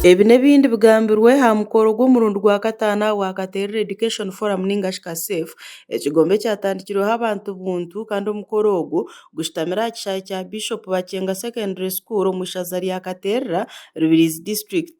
Ebi n'ebindi bigambirwe aha mukoro gw'omurundi gwa kataano aha gwa Katerere Education Forum ninga shi KASEF, ekigombe ekyatandikirweho abantu buntu kandi omukoro ogwo gushutamire aha kishaayi kya Bishop Bakyenga Secondary School omu ishaza rya Katerera, Rubirizi District.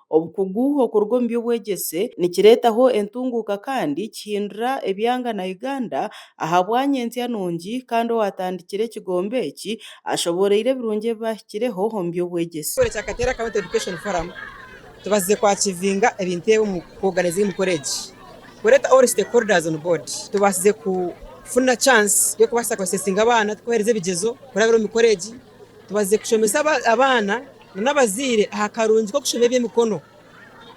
Obukugu okuruga omu by'obwegyese nikireetaho entunguuka kandi kihindura ebyanga na Uganda ahabwany'entsya nungi kandi owaatandikire ekigombe eki ashobooroire ebirungi ebi baahikireho omu by'obwegyese. Ekitongore kya Kateera County Education Forum tubazize kwakyivinga ebintu ebi omu ku organizinga emikoro egi. Kureeta all stakeholders on board tubaasize kufuna chance y'okubaasa ku assessinga abaana, tukubahereza ebigyezo kurabira omu mikoro egi. Tubazize kushomesa abaana n'abazaire aha karungi k'okushoma eby'emikono.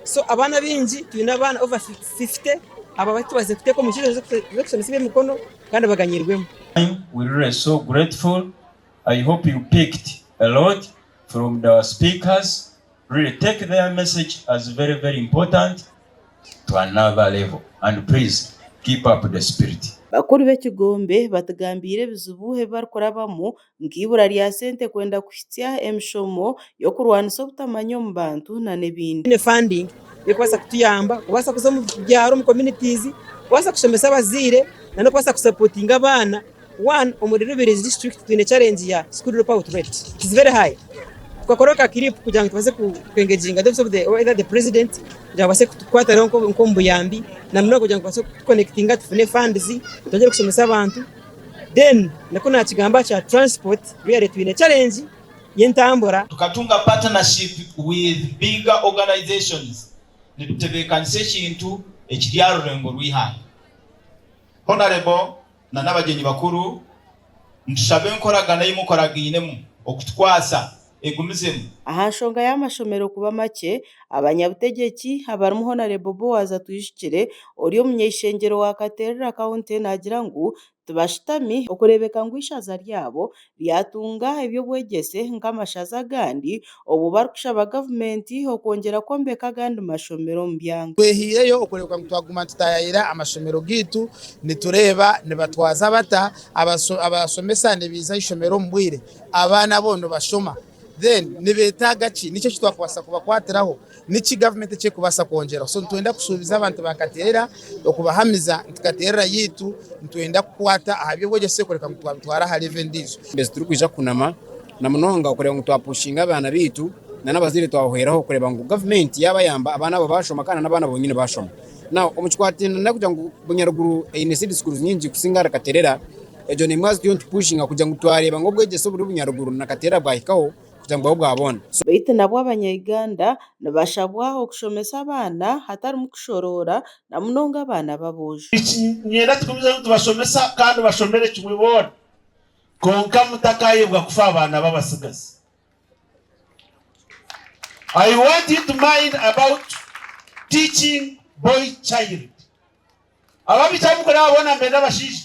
So abaana baingi twine abaana over fifty abo abu tubazize kuteeka omu nkizo z'okushomesa eby'emikono kandi baganyirwemu. We really so grateful I hope you picked a lot from the our speakers really take their message as very very important to another level and please keep up the spirit. Bakuru b'ekigombe batugambiire ebizibu ebi barikurabamu nk'eibura rya sente kwenda kuhitsya emishomo y'okurwanisa obutamanya omu bantu nana ebindi. Twine funding erikubaasa kutuyamba kubaasa kuza omu byaaro omu communities kubaasa kushomesa abazaire nana okubaasa ku supportinga abaana. One omuri Rubirizi district twine challenge ya school drop out rate it is very high. Tukakora ka clip kugira ngu tubaase ku engaginga the office of the either the president kugira ngu abaase kutukwatiraho nk'obuyambi na munonga kugira ngu tubaase ku connectinga tufune funds twongere kushomesa abantu. Then naku nakigamba kya transport really twine challenge y'entambura. Tukatunga partnership with bigger organizations nitutebekanisa ekintu ekiri aha rurengo rw'eihanga. Honourable na n'abagyenyi bakuru nitushaba enkoragana ei mukoraginemu okutukwasa. egumizemu. Aha nshonga y'amashomero kuba makye, abanyabutegyeki abarimu Honarebo Boaz Atwijukire ori omunyaishengyero wa Katerera County naagira ngu tibashutami okureebeka ngu eishaza ryabo ryatunga eby'obwegyese nk'amashaza agandi obu barikushaba gavumenti okwongyera kwombeka agandi mashomero omu byanga. Twehaireyo okureebeka ngu twaguma tutayaayira amashomero gaitu, nitureeba nibatwaza bata abashomesa nibaija aha ishomero omu bwire. Abaana abo nibashoma then nibetaaga ki? Niki ekitwakubaasa kubakwatiraho? Niki gavumenti ekyekubaasa kwongyeraho? So nitwenda kushuubiza abantu ba Kateerera okubahamiza nti Kateerera yaitu nitwenda kukwata aha by'obwegyese kureka ngu twabitwara aha levo endiijo. Mbwenu turikwija kunama namunonga okureeba ngu twapushinga abaana baitu nana abazaire twahweraho kureeba ngu gavumenti yabayamba abaana abo bashoma kandi n'abaana bonyine bashoma. Now omu kikwateine nakugira ngu Bunyaruguru eine seed schools nyingi kusinga ahari Kateerera. Egyo n'emwe ahari zituriyo nitupushinga kugira ngu twareeba ngu obwegyese oburi obunyaruguru na kateera bwahikaho kugira ngu bube bwa boona. Beitu nabwo Abanya-Uganda nibashabwa okushomesa abaana hatarimu kushoroora na munonga abaana b'aboojo. Nikinyenda tugumizeyo nitubashomesa kandi bashomere kimwe boona kwonka mutakayebwa kufa abaana b'abatsigazi. I want you to mind about teaching boy child. Ababikya abu mukore abo boona mbeende abashaija.